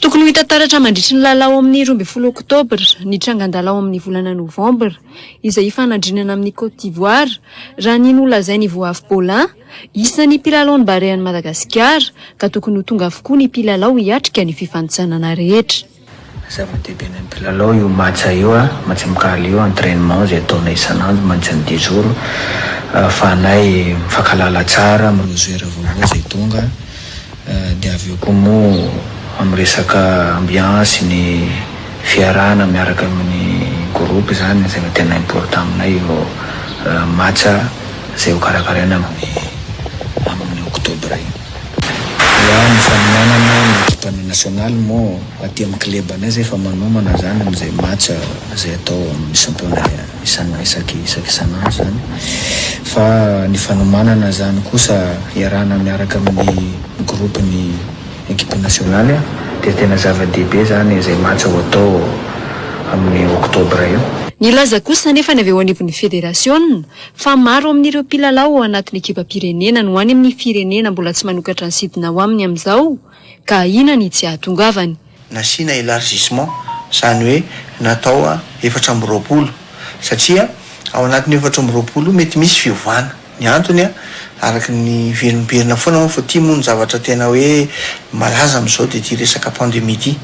Tokony ho hita taratra mandritry ny lalao ao amin'ny roa ambin'ny folo oktobra, ny trangan-dalao ao amin'ny volana novambra, izay hifanandrinana amin'i Côte d'Ivoire, raha ny nolazain'i Voavy Paulin, isan'ny mpilalaon'ny Barean'i Madagasikara, ka tokony ho tonga avokoa ny mpilalao hiatrika ny fifanintsanana rehetra. Zava-dehibe ny mpilalao io match io a, match amicale io, entrainement izay ataonay isan'andro mandritran'ny dix jours ahafahanay mifankahalala tsara, manao joueur vaovao izay tonga dia avy eo koa moa amin'ny resaka ambiance ny fiarahana miaraka amin'ny groupe izany izay no tena important aminay io match izay hokarakaraina amin'ny amin'ny octobre io. Ny ahy ny fanomanana ny ekipa ny nationale moa aty am club anay zay efa manomana zany am zay match zay atao am ny championnat isana isaky isaky isan'andro zany fa ny fanomanana zany kosa hiarahana miaraka am ny groupe ny ekipe nationale dia tena zava dehibe zany zay match ho atao am ny octobre io. Nilaza kosa anefa ny avy eo anivon'ny federasiona Fa maro amin'ireo mpilalao ao anatin'ny ekipam-pirenena no any amin'ny firenena mbola tsy manokatra ny sidina ao aminy amin'izao ka ahiana ny tsy hahatongavany. Nasiana élargissement, izany hoe natao efatra amby roapolo satria ao anatin'io efatra amby roapolo io mety misy fiovana. Ny antony araka ny velomberina foana moa fa ity moa ny zavatra tena hoe malaza amin'izao dia ity resaka pandemie ity.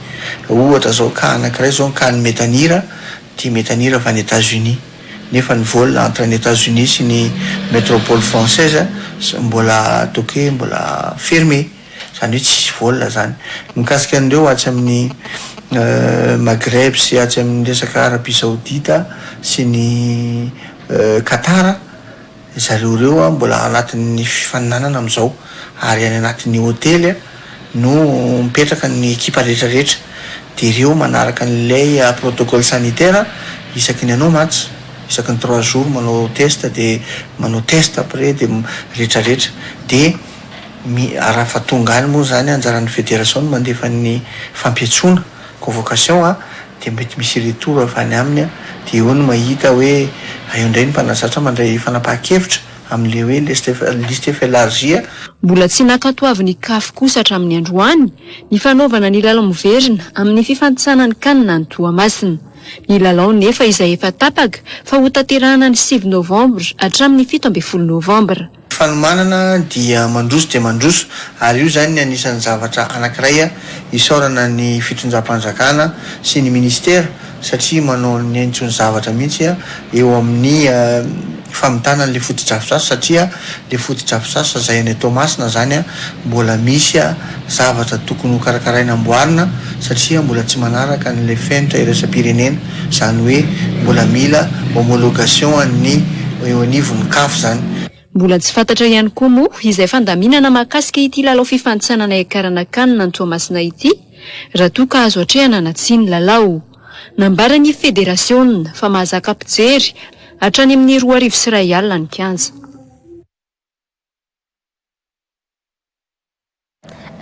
Ohatra izao cas anankiray izao ny cas an'i Metanira, ity Metanira avy any Etats-Unis. nefa ny vol entre ny Etats Unis sy ny metropole française mbola ataoko hoe mbola fermé, izany hoe tsisy vol zany. Mikasika an'ireo atsy amin'ny Maghreb sy atsy amin'ny resaka Arabie Saoudite sy ny Qatar, Ry zareo ireo mbola anatin'ny fifaninanana amin'izao ary any anatin'ny hotely no mipetraka ny ekipa rehetra rehetra. Dia ireo manaraka an'ilay protocole sanitaire isaky ny anao match, isaky ny trois jours manao test dia manao test après dia rehetra rehetra. Dia mi, raha efa tonga any moa izany anjaran'ny federation no mandefa ny fampiantsoana. convocation a dia mety misy retour avy any aminy dia eo no mahita hoe aeo indray ny mpanazatra mandray fanapahan-kevitra amin'ilay hoe liste liste efa elargie. Mbola tsy nankatoavin' i Caf kosa hatramin'ny androany ny fanaovana ny lalao miverina amin'ny fifantisana ny Can any Toamasina. Ny lalao nefa izay efa tapaka fa hotanterahana ny sivy novambra hatramin'ny fito ambin'ny folo novambra. Fanomanana dia mandroso dia mandroso ary io izany ny anisan'ny zavatra anankiray isaorana ny fitondram-panjakana sy ny minisitera satria manao ny aintso ny zavatra mihitsy eo amin'ny famitana an'ilay fotodrafitrasa satria ilay fotodrafitrasa izay any Toamasina izany mbola misy zavatra tokony hokarakaraina amboarina satria mbola tsy manaraka an'ilay fenitra iraisam-pirenena Izany hoe mbola mila homologation an'ny eo anivon'ny caf izany. Mbola tsy fantatra ihany koa moa izay fandaminana mahakasika ity lalao fifanintsanana hiakarana Can any Toamasina ity raha toa ka azo atrehana na tsia ny lalao. Nambaran'ny federasiona fa mahazaka mpijery hatrany amin'ny roa arivo sy iray alina ny kianja.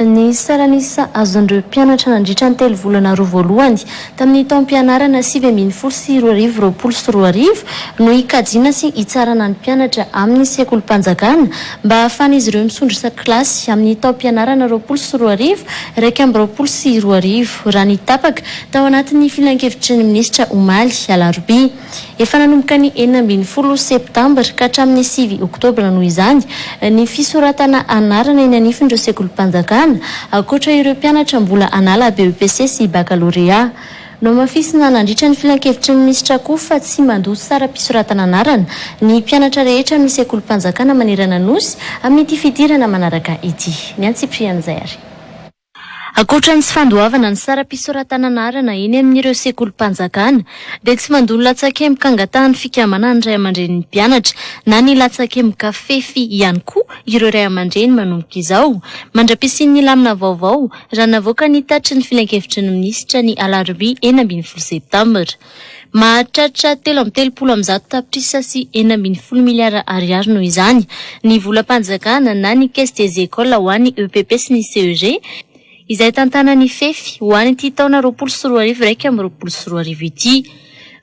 Ny salan'isa azon'ireo mpianatra nandritra ny telo volana roa voalohany tamin'ny taom-pianarana sivy ambin'ny folo sy roa arivo roapolo sy roa arivo no hikajiana sy hitsarana ny mpianatra amin'ny sekolim-panjakana mba hahafahan'izy ireo misondro isan-kilasy amin'ny taom-pianarana roapolo sy roa arivo iraika amby roapolo sy roa arivo, raha ny tapaka tao anatin'ny filankevitry ny minisitra omaly alarobia. Efa nanomboka ny enina ambin'ny folo septambra ka hatramin'ny sivy oktobra noho izany ny fisoratana anarana eny anifon'ireo sekolim-panjakana, ankoatra ireo mpianatra mbola hanala BEPC sy bakalorea. Nohamafisina nandritra ny filankevitry ny minisitra koa fa tsy mandoa saram-pisoratana anarana ny mpianatra rehetra amin'ny sekolim-panjakana manerana Nosy amin'ity fidirana manaraka ity. Ny antsipirihan'izay ary. Ankoatra ny tsy fandoavana ny saram-pisoratana anarana eny amin'ireo sekolim-panjakana, dia tsy mandoa ny latsakemboka angatahan'ny fikambanan'ny ray aman-drenin'ny mpianatra na ny latsakemboka fefy ihany koa ireo ray aman-dreny manomboka izao, mandra-pisian'ny lamina vaovao, raha navoaka ny tatitry ny filankevitry ny minisitra ny alarobia enina ambin'ny folo septambra. Mahatratra telo amby telopolo amin'ny zato tapitrisa sy enina ambin'ny folo miliara ariary noho izany ny volam-panjakana na ny Caisse des Ecoles ho an'ny EPP sy ny CEG izay tantanan'ny Fefy ho an'ity taona roapolo sy roa arivo iraika amby roapolo sy roa arivo ity.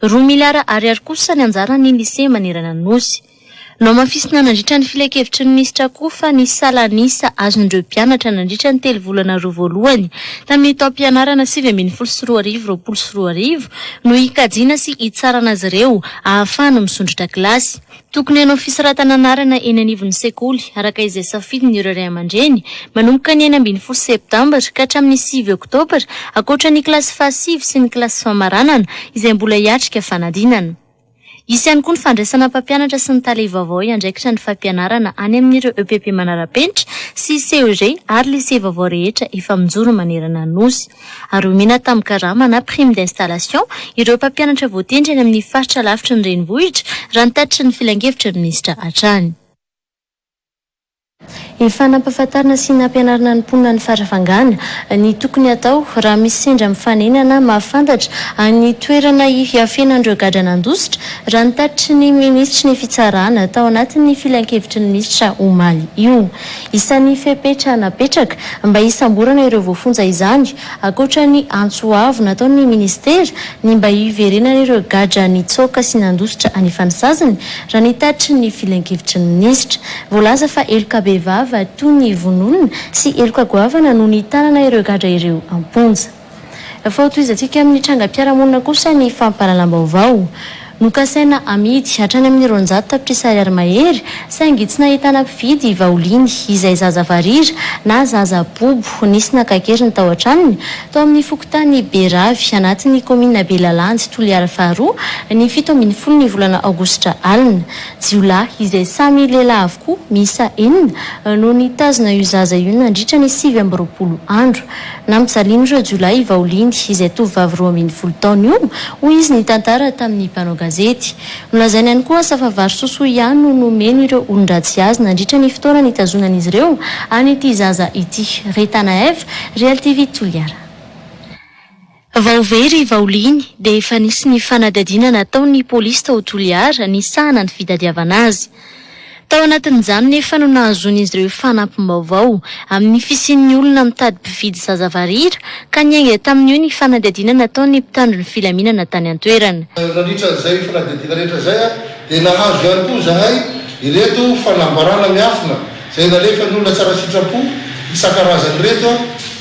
Roa miliara ariary kosa ny anjaran'ny Lycée manerana ny Nosy. Nohamafisina nandritra ny filankevitry ny minisitra koa fa ny salan'isa azon'ireo mpianatra nandritra ny telo volana roa voalohany tamin'ny taom-pianarana sivy ambin'ny folo sy roa arivo roapolo sy roa arivo no hikajiana sy hitsarana azy ireo ahafahana misondrotra kilasy. Tokony hanao fisoratana anarana eny anivon'ny sekoly, araka izay safidin'ireo ray aman-dreny, manomboka ny enina ambin'ny folo septambra ka hatramin'ny sivy oktobra, ankoatra ny kilasy fahasivy sy ny kilasy famaranana izay mbola hiatrika fanadinana. Hisy ihany koa ny fandraisana mpampianatra sy ny tale vaovao hiandraikitra ny fampianarana any amin'ireo EPP manara-penitra sy CEG ary lycée vaovao rehetra efa mijoro manerana ny Nosy. Ary omena tamin'ny karama na prime d'installation ireo mpampianatra voatendry any amin'ny faritra lavitry ny renivohitra, raha ny tatitry ny filankevitra minisitra hatrany. Efa nampahafantarina sy nampianarina ny mponina ny farafangana, ny tokony hatao raha misy sendra mifanenana mahafantatra an'ny toerana hiafenan'ireo gadra nandositra, raha ny tatitry ny minisitry ny fitsarana tao anatin'ny filankevitry ny minisitra omaly io. Isan'ny fepetra napetraka mba hisamborana ireo voafonja izany Ankoatra ny antso avo nataon'ny minisitera, ny mba hiverenan'ireo gadra nitsoaka sy nandositra anefa ny saziny, raha ny tatitry ny filankevitry ny minisitra. Voalaza fa heloka bevava toy ny vonoolona sy heloka goavana no nitanana ireo gadra ireo am-ponja. Efa hotohizantsika amin'ny trangam-piarahamonina kosa ny fampahalalam-baovao. Nokasaina hamidy hatrany amin'ny roanjato tapitrisa ariary mahery saingy tsy nahitana mpividy i Vaoliny izay zaza varira na zaza bobo nisy naka keriny tao an-tranony tao amin'ny fokontany Beravy anatin'ny kaominina Belalandy Toliara faharoa ny fito ambin'ny folo ny volana aogositra alina. Jiolahy izay samy lehilahy avokoa miisa enina no nitazona io zaza io nandritra ny sivy amby roapolo andro. Nampijalin'ireo jiolahy i Vaoliny, izay tovovavy roa ambin'ny folo taona io, hoy izy nitantara tamin'ny mpanao gazety. Nolazainy ihany koa asa fa vary sosoa ihany no nomeny ireo olon-dratsy azy nandritra ny fotoana nitazonan'izy ireo an'ity zaza ity. Rita Naev, Real TV Toliara. Vao very i Vaoliny dia efa nisy ny fanadihadiana nataon'ny polisy tao Toliara nisahana ny fitadiavana azy. Tao anatin'izany nefa no nahazoan'izy ireo fanampim-baovao, amin'ny fisian'ny olona mitady mpividy zaza varira, ka niainga tamin'io ny fanadihadiana nataon'ny mpitandro ny filaminana tany an-toerana. Nandritra izay fanadihadiana rehetra izay dia nahazo ihany koa izahay ireto fanambarana miafina izay nalefan'ny olona tsara sitrapo isan-karazany ireto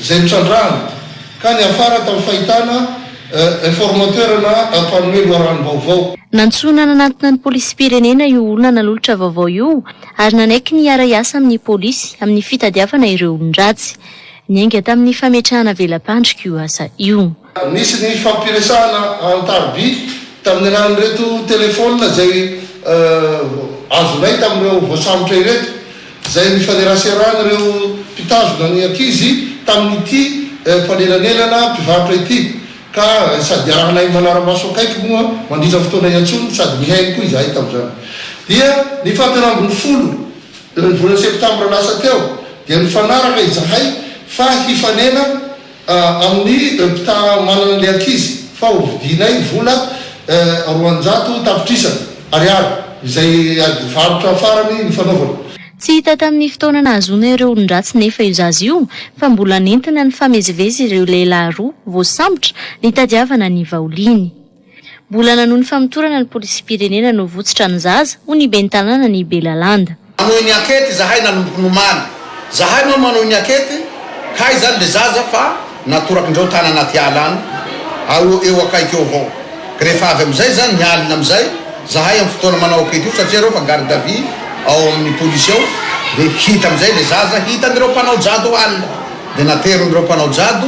izay nitrandrahana ka niafara tamin'ny fahitana Informateur na mpanoe loharanom-baovao. Nantsoina nanatona ny polisim-pirenena io olona nanolotra vaovao io ary nanaiky ny hiara-hiasa amin'ny polisy amin'ny fitadiavana ireo olon-dratsy. Niainga tamin'ny fametrahana vela-pandrika io asa io. Nisy ny fifampiresahana an-tariby tamin'ny alalan'ireto telefaonina izay azonay tamin'ireo voasambotra ireto. izay nifaneraserany ireo mpitazona ny ankizy tamin'ity mpanelanelana mpivarotra ity ka sady arahinay manara-maso akaiky moa mandritra ny fotoana iantsoany sady nihaino koa izahay tamin'izany dia ny faha telo ambin'ny folo ny volana septambra lasa teo dia nifanaraka izahay fa hifanena Amin'ny mpitara manana ilay ankizy fa ho vidianay vola roanjato tapitrisa ariary izay ady varotra farany nifanaovana. Tsy hita tamin'ny fotoana nahazoana ireo olon-dratsy nefa io zaza io fa mbola nentina nifamezivezy ireo lehilahy roa voasambotra nitadiavana ny vaoliny. Mbola nanohy ny famotorana ny polisim-pirenena novotsitra ny zaza, hoy ny ben'ny tanàna ny Belalanda. Manohy ny ankety zahay nanomboka ny omaly. Zahay moa manohy ny ankety, hay izany ilay zaza fa natorak'indreo tany anaty ala any, ao eo akaiky eo avao. Rehefa avy amin'izay izany ny alina amin'izay, zahay amin'ny fotoana manao ankety io, satria ireo efa garde à vue ao amin'ny polisy ao, dia hita amin'izay ilay zaza, hitan'ireo mpanao jado alina, dia naterin'ireo mpanao jado.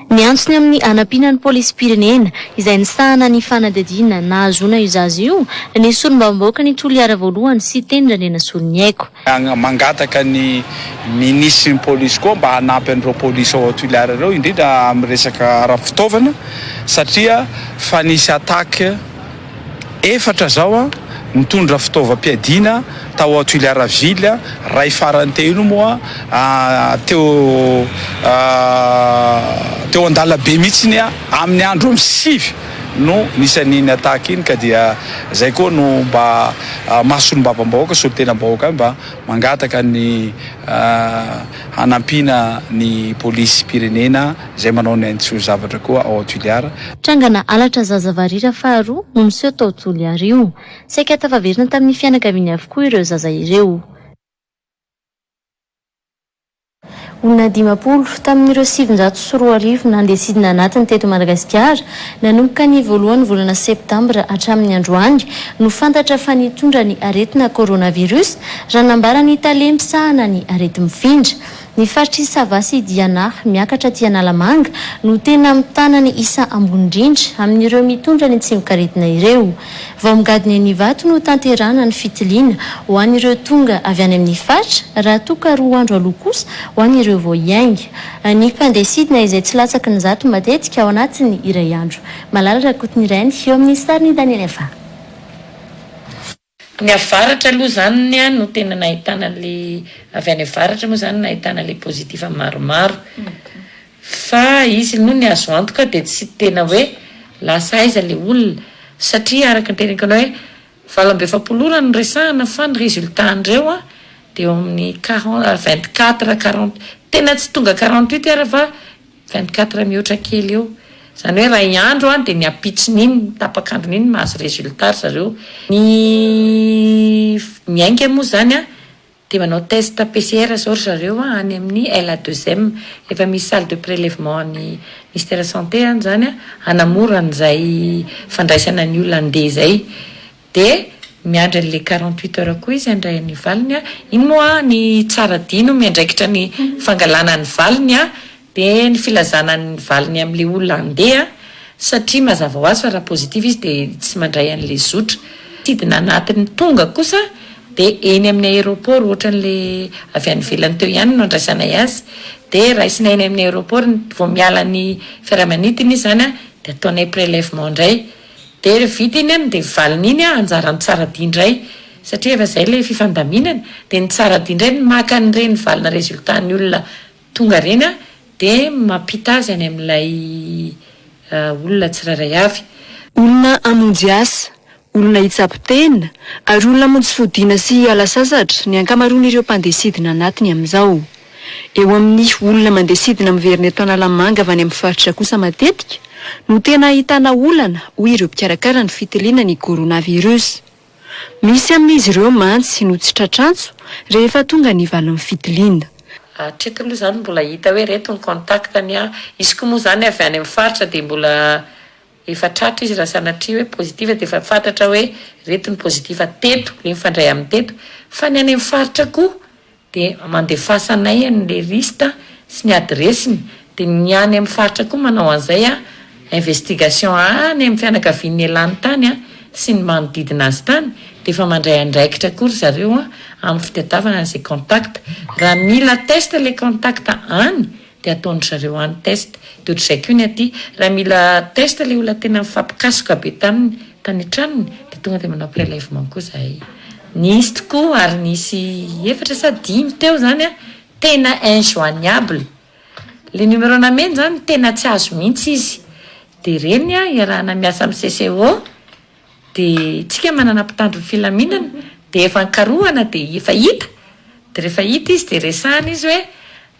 Niantso ny amin'ny hanampiana ny polisim-pirenena, izay nisahana ny fanadihadiana nahazoana io zaza io, ny solombavambahoaka ny Toliara voalohany, Siteny Randrianasoloniaiko. Mangataka ny minisitry ny polisy koa mba hanampy an'ireo polisy ao Toliara ireo, indrindra amin'ny resaka ara-pitaovana satria fa nisy attaque. Efatra zao a, nitondra fitaovam-piadiana tao à Tuilearville a, ray farany teo iny moa a, teo a, teo an-dalabe mihitsiny a, amin'ny andro am sivy no nisan'iny attaque iny ka dia zay koa no mba maha solombavambahoaka, solontenam-bahoaka ahy mba mangataka ny hanampiana ny polisim-pirenena. Izay manao ny ainy tsy ho zavatra koa ao Tuliara. Trangana halatra zaza varira faharoa no niseho tao Toliara io. Saika tafaverina tamin'ny fianakaviany avokoa ireo zaza ireo. Olona dimampolo tamin'ireo sivinjato sy roa arivo nandeha sidina anatiny teto Madagasikara, nanomboka ny voalohan'ny volana septambra hatramin'ny androany, no fantatra fa nitondra ny aretina coronavirus, raha nambaran'ny tale misahana ny areti-mifindra. Ny faritr'i Sava sy Diana, miakatra aty Analamanga, no tena mitana ny isa ambony indrindra amin'ireo mitondra ny tsimokaretina ireo. Vao migadona eny Ivato no tanterahana ny fitiliana, ho an'ireo tonga avy any amin'ny faritra, raha toa ka roa andro aloha kosa ho an'ireo vao hiainga. Ny mpandeha sidina izay tsy latsaky ny zato matetika ao anatin'ny iray andro. Malala Rakotonirainy, eo amin'ny sarin'i Daniel Efa. Ny avaratra aloha izany no tena nahitana an'ilay, avy any avaratra moa izany no nahitana ilay positif maromaro. Fa izy aloha ny azo antoka dia tsy tena hoe lasa aiza ilay olona. Satria araka ny teneniko anao hoe valo amby efapolo ora no resahana fa ny résultat an'ireo dia eo amin'ny quarante, vingt quatre, quarante, tena tsy tonga quarante huit ara fa Vingt quatre mihoatra kely eo. Izany hoe iray andro dia ny ampitsony iny, ny tapak'androny iny no mahazo résultat ry zareo. Ny miainga moa izany dia manao test PCR izao ry zareo any amin'ny LA deux M. Efa misy salle de prélèvement an'ny Ministère santé any izany hanamora an'izay fandraisana ny olona handeha izay. Dia miandry an'le quarante huit heures koa izy handray ny valiny a! Iny moa ny tsara dihy no miandraikitra ny fangalana ny valiny a! Dia ny filazana ny valiny amin'le olona handeha satria mazava ho azy fa raha positif izy dia tsy mandray an'le zotra. Sidina anatiny tonga kosa dia eny amin'ny aéroport ohatran'le avy any ivelany teo ihany no andraisanay azy dia raisina eny amin'ny aéroport ny vao miala ny fiaramanidina izy zany a dia ataonay prélèvement indray. Dia re vita iny an dia valiny iny an anjaran'ny tsaradia indray satria efa izay ilay fifandaminana dia ny tsaradia indray no maka an'ireny valina resultat-ny olona tonga ireny an dia mampita azy any amin'ilay olona tsirairay avy. Olona hamonjy asa, olona hitsabo tena, ary olona hamonjy fodiana sy hiala sasatra ny ankamaroan'ireo mpandeha sidina anatiny amin'izao. Eo amin'ny olona mandeha sidina miverina eto Analamanga avy any amin'ny faritra kosa matetika no tena ahitana olana, hoy ireo mpikarakara ny fitiliana ny Coronavirus. Misy amin'izy ireo mantsy no tsy tratr'antso rehefa tonga ny valin'ny fitiliana. Hatreto aloha izany mbola hita hoe ireto ny contact ny ahy. Izy koa moa izany avy any amin'ny faritra dia mbola efa tratra izy raha sanatria hoe positif dia efa fatratra hoe ireto ny positif teto, ilay mifandray amin'ny teto. Fa ny any amin'ny faritra koa dia mandefasanay an le liste sy ny adiresiny dia ny any am faritra koa manao an'izay an investigation any amin'ny fianakavian'ny elany tany an sy ny manodidina azy tany dia efa mandray andraikitra koa ry zareo an amin'ny fitadiavana an'izay contact raha mila test le contact any Dia ataon-dry zareo any test. Dia ohatr'izay koa ny aty, raha mila test ilay olona tena mifampikasoka be taminy tany an-tranony, dia tonga dia manao prélèvement koa izahay. Nisy tokoa ary nisy efatra sa dimy teo izany an, tena injoignable. Ilay numéro nameny izany tena tsy azo mihitsy izy. Dia ireny iarahana miasa amin'ny CCO. dia tsika manana mpitandro ny filaminana dia efa nkarohana dia efa hita dia rehefa hita izy dia resahana izy hoe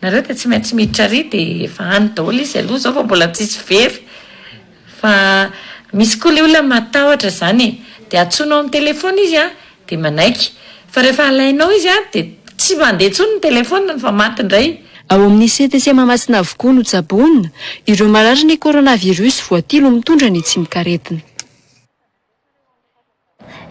nareo dia tsy maintsy miditra ary dia efa any daholo izy aloha zao vao mbola tsisy very fa misy koa le olona matahotra zany e dia antsoinao am telefona izy an Dia manaiky. Fa rehefa alainao izy an, dia tsy mandeha intsony ny telefoniny fa maty indray. Ao amin'ny CTC Mahamasina avokoa no tsaboina ireo mararin'ny coronavirus voatilo mitondra ny tsimokaretina.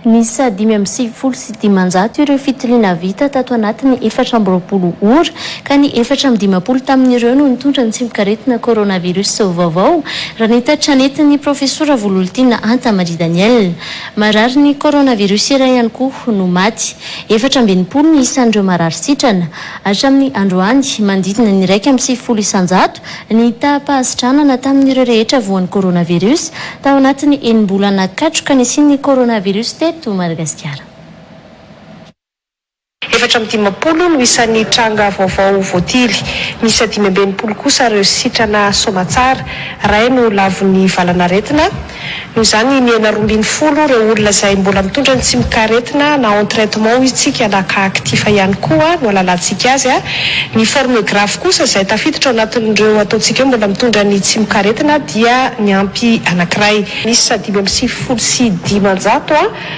Niisa dimy amby sivifolo sy dimanjato ireo fitiliana vita tato anatin'ny efatra amby roapolo ora, ka ny efatra amby dimampolo tamin'ireo no nitondra ny tsimokaretina coronavirus vaovao, raha ny tatitra nentin'ny Profesora Vololtiana Antamary Daniel. Marary ny coronavirus iray ihany koa no maty. Efatra amby enimpolo ny isan'ireo marary sitrana. Hatramin'ny androany, manodidina ny iraika amby sivifolo isan-jato ny taham-pahasitranana tamin'ireo rehetra voan'ny coronavirus tao anatin'ny enim-bolana katroka nisian'ny coronavirus teto Madagasikara. Efatra amby dimampolo no isan'ny tranga vaovao voatily. Miisa dimy amby enimpolo kosa ireo sitrana soamantsara. Iray no lavon'ny valanaretina. Noho izany, mihena roa ambin'ny folo ireo olona izay mbola mitondra ny tsimokaretina na en traitement hoy isika na cas actif ihany koa no halalantsika azy. Ny forme grave kosa izay tafiditra ao anatin'ireo ataontsika hoe mbola mitondra ny tsimokaretina dia niampy anankiray. Miisa dimy amby sivifolo sy dimanjato.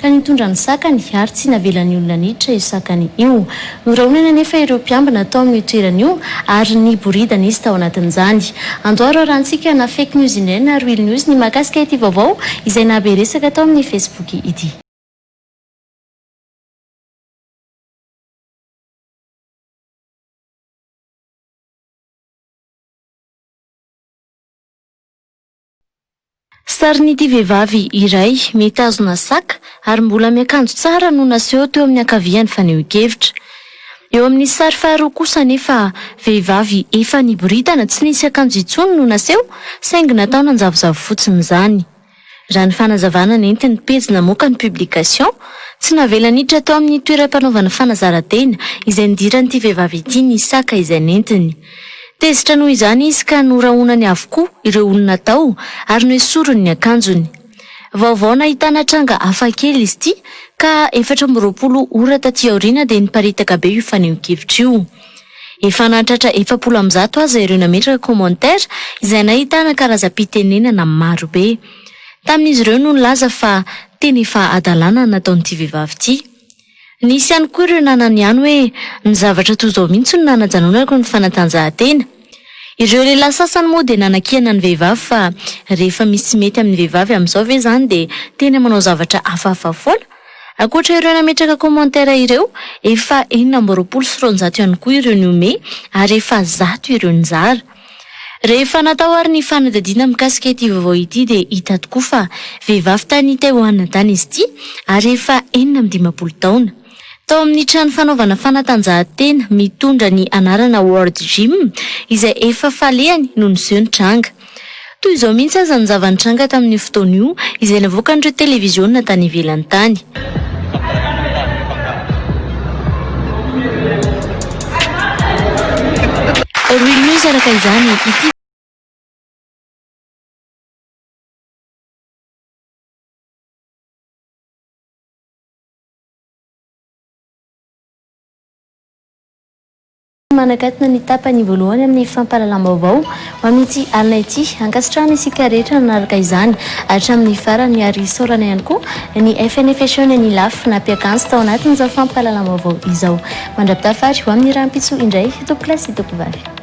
ka nitondra ny sakany ary tsy navelan'ny olona niditra io sakany io. Norahonany anefa ireo mpiambina tao amin'io toerana io ary niboridana izy tao anatin'izany. Andoha raharantsika na Fake News indray na Real News ny mahakasika ity vaovao izay nahabe resaka tao amin'ny Facebook ity. Sarin'ity vehivavy iray mitazona sac ary mbola miakanjo tsara no naseho teo amin'ny ankavian'ny fanehoan-kevitra. Eo amin'ny sary faharoa kosa anefa, vehivavy efa niboridana tsy nisy akanjo intsony no naseho saingy natao nanjavozavo fotsiny izany. Raha ny fanazavana nentin'ny pejy namoaka ny publication, tsy navela niditra tao amin'ny toeram-panaovana fanazarantena izay nidiran'ity vehivavy ity ny sac izay nentiny. Tezitra noho izany izy ka norahonany avokoa ireo olona tao ary noesoriny ny akanjony. Vaovao nahitana tranga hafakely izy ity ka efatra amby roapolo ora taty aoriana dia niparitaka be io fanehoan-kevitra io. Efa nahatratra efapolo amby zato aza ireo nametraka commentaire izay nahitana karazam-pitenenana maro be. Tamin'izy ireo no nilaza fa tena efa hadalana ny nataon'ity vehivavy ity. Nisy ihany koa ireo nanana ihany hoe ny zavatra toa izao mihitsy no nanajanonako ny fanatanjahantena. Ireo lehilahy sasany moa dia nanakihana ny vehivavy fa rehefa misy mety amin'ny vehivavy amin'izao ve izany dia tena manao zavatra hafahafa foana? Ankoatra ireo nametraka commentaires ireo, efa enina amby roapolo sy roanjato ihany koa ireo nihomehy ary efa zato ireo nizara. Rehefa natao ary ny fanadihadiana mikasika ity vaovao ity dia hita tokoa fa vehivavy tany Taiwan tany izy ity ary efa enina amby dimampolo taona. Tao amin'ny trano fanaovana fanatanjahantena mitondra ny anarana World Gym izay efa falehany no niseho ny tranga. Toy izao mihitsy aza ny zava-nitranga tamin'io fotoana io, izay navoakan'ireo televiziona tany ivelany tany. Real News Araka izany, ity. Tsy manakatona ny tapany voalohany amin'ny fampahalalam-baovao ho amin'ity alina ity. Ankasitrahana isika rehetra nanaraka izany hatramin'ny farany ary isaorana ihany koa ny FNFHEUNE et ny laf nampiakanjo tao anatin'izao fampahalalam-baovao izao. Mandra-pitafary ho amin'ny rahampitso indray, Tompokolahy sy Tompovavy.